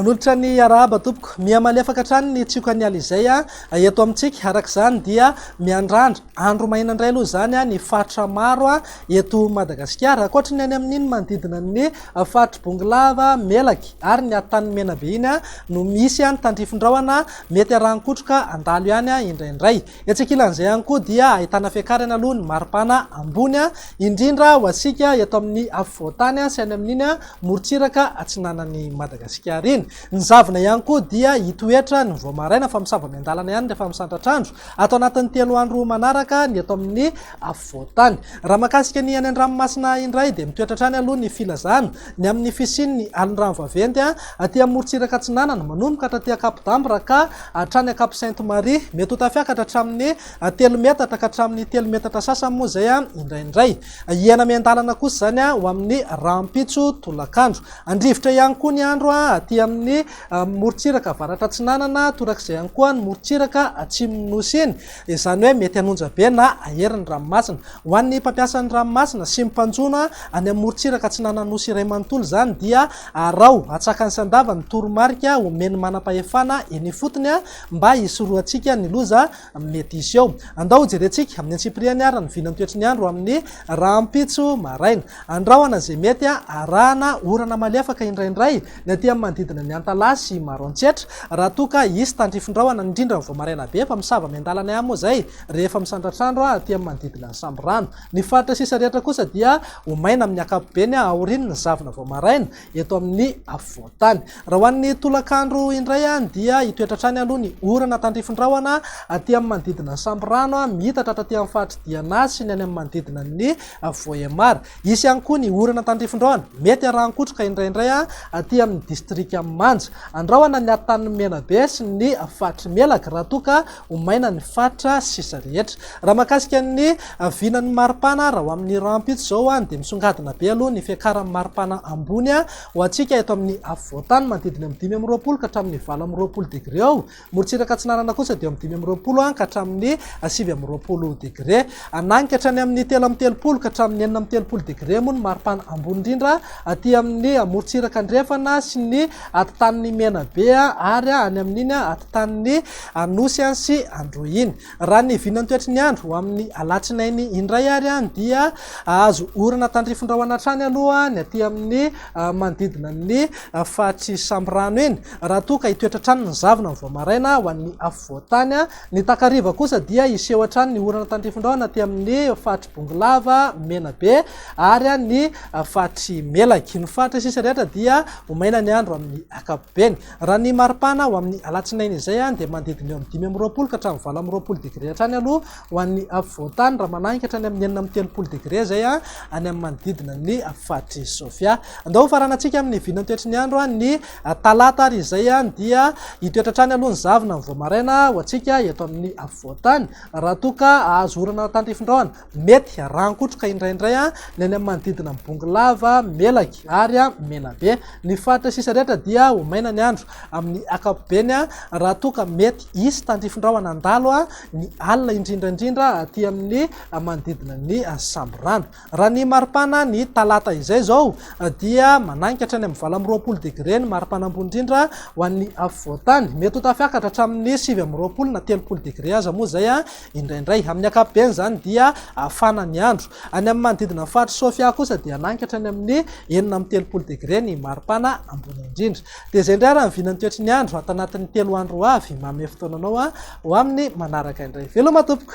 Manolotra ny arahaba tompoko. Mihamalefaka hatrany ny tsiokan'ny alizay ah. eto amintsika araka izany dia miandrandra andro maina indray aloha izany ah, ny faritra maro ah, eto Madagasikara. Ankoatry ny any amin'iny manodidina ny Faritry Bongolava, Melaky ary ny Atan'ny Menabe iny no misy ny tandrifin-drahona mety arahan-kotroka handalo ihany indraindray. Etsy ankilan'izay ihany koa dia ahitana fiakarany aloha ny maripana ambony indrindra ho antsika eto amin'ny afovoan-tany sy any amin'iny morontsiraka atsinanan'i Madagasikara iny. Ny zavona ihany koa dia hitoetra ny vao maraina fa misava miandalana ihany rehefa misandratr'andro. Ato anatin'ny telo andro manaraka ny eto amin'ny afovoan-tany. Raha mahakasika ny any an-dranomasina indray dia mitoetra hatrany aloha ny filazana ny amin'ny fisian'ny alin-drano vaventy aty amorontsiraka atsinanana manomboka hatraty Ankapodambo raha ka hatrany Ankapo Sainte Marie mety ho tafiakatra hatramin'ny telo metatra ka hatramin'ny telo metatra sasany moa izay indraindray hiaina miandalana kosa izany ho amin'ny rahampitso tolakandro handrivotra ihany koa ny andro aty amin'ny morontsiraka avaratra atsinanana torak'izay ihany koa ny morontsiraka atsimon'ny nosy iny izany hoe mety hanonja be na hahery ny ranomasina. Ho an'ny mpampiasa ny ranomasina sy ny mpanjono any amin'ny morontsiraka atsinanan'Nosy iray manontolo izany dia araho hatsakany sy handava ny toromarika omen'ny manam-pahefana eny ifotony mba hisorohantsika ny loza mety hisy eo. Andao hojerentsika amin'ny antsipiriany ary ny vilan'ny toetry ny andro amin'ny rahampitso maraina. Andrahona izay mety arahana orana malefaka indraindray. Ny aty amin'ny manodidina ny Antalaha sy Maroantsetra, raha toa ka hisy tandrifin-drahona, indrindra ny vao maraina be, fa misava miandalana ihany moa izay rehefa misandratra andro aty amin'ny manodidina ny Sambirano. Ny faritra sisa rehetra kosa dia ho maina amin'ny ankapobeny aorian' ny zavona vao maraina eto amin'ny afovoan-tany. Raha ho an'ny tolakandro indray dia hitoetra hatrany aloha ny orana tandrifin-drahona aty amin'ny manodidina ny Sambirano, mihitatra hatraty amin'ny faritr'i Diana sy ny any amin'ny manodidina ny Vohémar. Hisy ihany koa ny orana tandrifindraona, mety arahan-kotroka indraindray aty amin'ny distrikan'i Manja. Andrahona ny atan'ny Menabe sy ny faritry Melaky raha toa ka ho maina ny faritra sisa rehetra. Raha mahakasika ny vinan'ny maripana raha ho amin'ny rahampitso izao dia misongadina be aloha ny fiakaran'ny maripana ambony ho antsika eto amin'ny afovoantany manodidina amin'ny dimy amby roapolo ka hatramin'ny valo amby roapolo degre eo Morontsiraka Atsinanana kosa dia eo amin'ny dimy amby roapolo ka hatramin'ny sivy amby roapolo degre. Hananika hatrany amin'ny telo amby telopolo ka hatramin'ny enina amby telopolo degre moa ny maripana ambony indrindra aty amin'ny morontsiraka andrefana sy ny atitanin'i Menabe ary any amin'iny atitanin'i Anosy sy Androy iny. Raha ny vinantoetry ny andro, ho amin'ny alatsinainy indray ary dia hahazo orana tandrifindrahona hatrany aloha ny aty amin'ny manodidina ny faritry Sambirano iny, raha toa ka hitoetra hatrany ny zavona vao maraina ho an'ny afovoan-tany. Ny takariva kosa dia hiseho hatrany ny orana tandrifindrahona aty amin'ny faritry Bongolava, Menabe ary ny faritry Melaky. Ny faritra sisa rehetra dia ho maina ny andro amin'ny ankapobeny. Beny, raha ny maripana ho amin'ny alatsinainy izay dia manodidina eo amin'ny dimy amby roapolo ka hatramin'ny valo amby roapolo degre hatrany aloha ho an'ny afovoan-tany raha manahy hatrany amin'ny enina amby telopolo degre izay any amin'ny manodidina ny faritry Sofia. Andao ho faranantsika amin'ny vinantoetry ny andro ny talata ary izay dia hitoetra hatrany aloha ny zavona mivoa maraina ho antsika eto amin'ny afovoan-tany raha toa ka hahazo orana tandrifindraona Mety rangotroka indraindray ny any amin'ny manodidina an'i Bongolava, Melaky ary Menabe. Ny faritra sisa rehetra dia ho maina ny andro. Amin'ny ankapobeny, raha toa ka mety hisy tandrifin-drahona handalo ny alina indrindra indrindra aty amin'ny manodidina ny samborano. Raha ny maripana ny talata izay izao dia mananika hatrany amin'ny valo amby roapolo degre ny maripana ambony indrindra ho an'ny afovoan-tany. Mety ho tafiakatra hatramin'ny sivy amby roapolo na telopolo degre aza moa izay Indraindray. Amin'ny ankapobeny izany dia hafana ny andro. Any amin'ny manodidina ny faritry Sofia kosa dia hanangy ka hatrany amin'ny enina amby telopolo degre ny maripana ambony indrindra. Dia izay indray ary ny vinan'ny toetry ny andro ato anatin'ny telo andro ho avy. Manome fotoana anao ho amin'ny manaraka indray. Veloma tompoko!